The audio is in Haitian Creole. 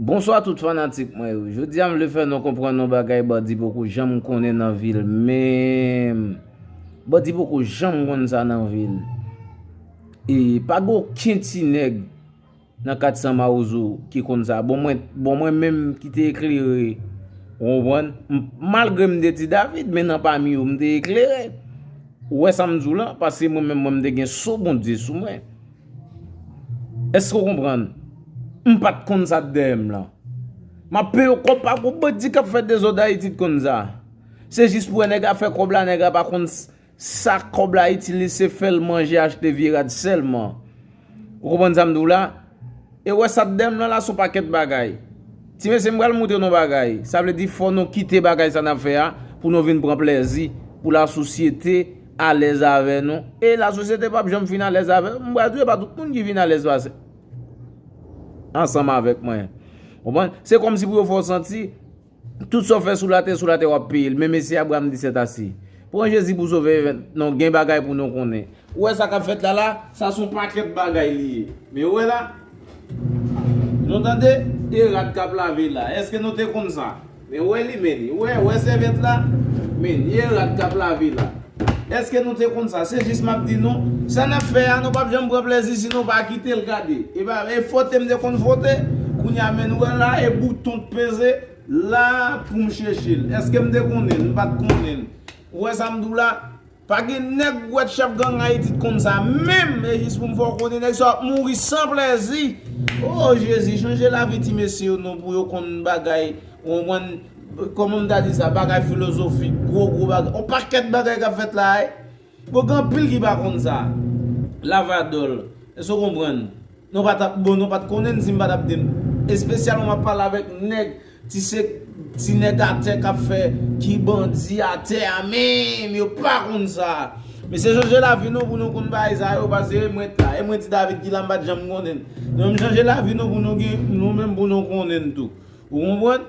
Bonswa tout fanatik mwen yo Jodi a m vle fè nou konprann yon bagay bandi poko janm konnen nan vi l menm Bandi poko janm konn sa nan vi l E pa gen oken ti nèg nan 400 mawozo ki konn sa Bon mwen bon mwen menm ki te eklere Ou konprann Malgre m te ti David men nan pami yo m te eklere Ou wè sa m di w lan Paske mwen menm mwen m te gen so Bondye sou mwen Eske ou konprann? M pat konn sa t dèyè m lan. M ap peye w kòb pa gwo bandi k ap fè dezòd Ayiti t konn sa. Se jis pou wè nèg la fè kòb la nèg la pa konn sa kòb la itil li se fè l manje achte vye rad sèlman. Ou konprann sa m di w la? E wè sa tdem lan la son pakèt bagay. Ti mesye m pral moutre nou bagay. Sa vle di fò nou kite bagay sa nap fè a pou nou vin pran plèzi, pou la sosyete alèz avè nou. E la sosyete pap janm fin alèz avè nou. M pral di ou e pa tout moun ki vin alèz pase ansanm avèk mwen. Ou konprann? Se kòmsi pou yo fè w santi. Tout sa w fè sou latè, sou latè w ap peye l. Men mesi Abraham di sèt ase. Pran Jezi pou sovè event non gen bagay pou nou konnen. Ou wè sa kap fèt la la, sa son pakèt bagay li ye. Men ou wè la. Nou tande, e rad kap lave la. Eske nou te konn sa? Men ou wè li men, ou wè, ou wè sèvèt la? Men, e rad kap lave la. Eske nou te konn sa? Se jis map di nou, sa nap fè a nou pap janm pran plezi si nou pa kitel gade. Epa e fwote m te konn fwote, kounye a men nou wè la e bouton k peze la poum chechel. Eske m te konnen l? M pat konnen l. Ou wè sa m di w la? Pa gen nèg ou wè t chèf gang Ayiti t konn sa menm e jis pou m fè w konnen nèg sa yo ap mouri san plezi. Oh Jezi chanje lavi ti mesye yo non pou yo konn bagay ou konprann? Kòman m ta di sa, bagay filozofik, gwo gwo bagay, on pakèt bagay k ap fèt la a. Bon gen anpil ki pa konn sa. Lavadòl, èske ou konprann? Nou pa t ap, bon nou pa t konnen n si m pa t ap di n. Espesyalman m ap pale avèk nèg, ti se, ti nèg atè k ap fè, ki bandi atè a menm, yo pa konn sa. Mesye chanje lavi nou pou nou konn bagay sa yo pase mwen t la e mwen t di David ki la m pat janm konnen l nou menm chanje lavi nou pou nou gen nou menm pou nou konnen l tou ou konprann.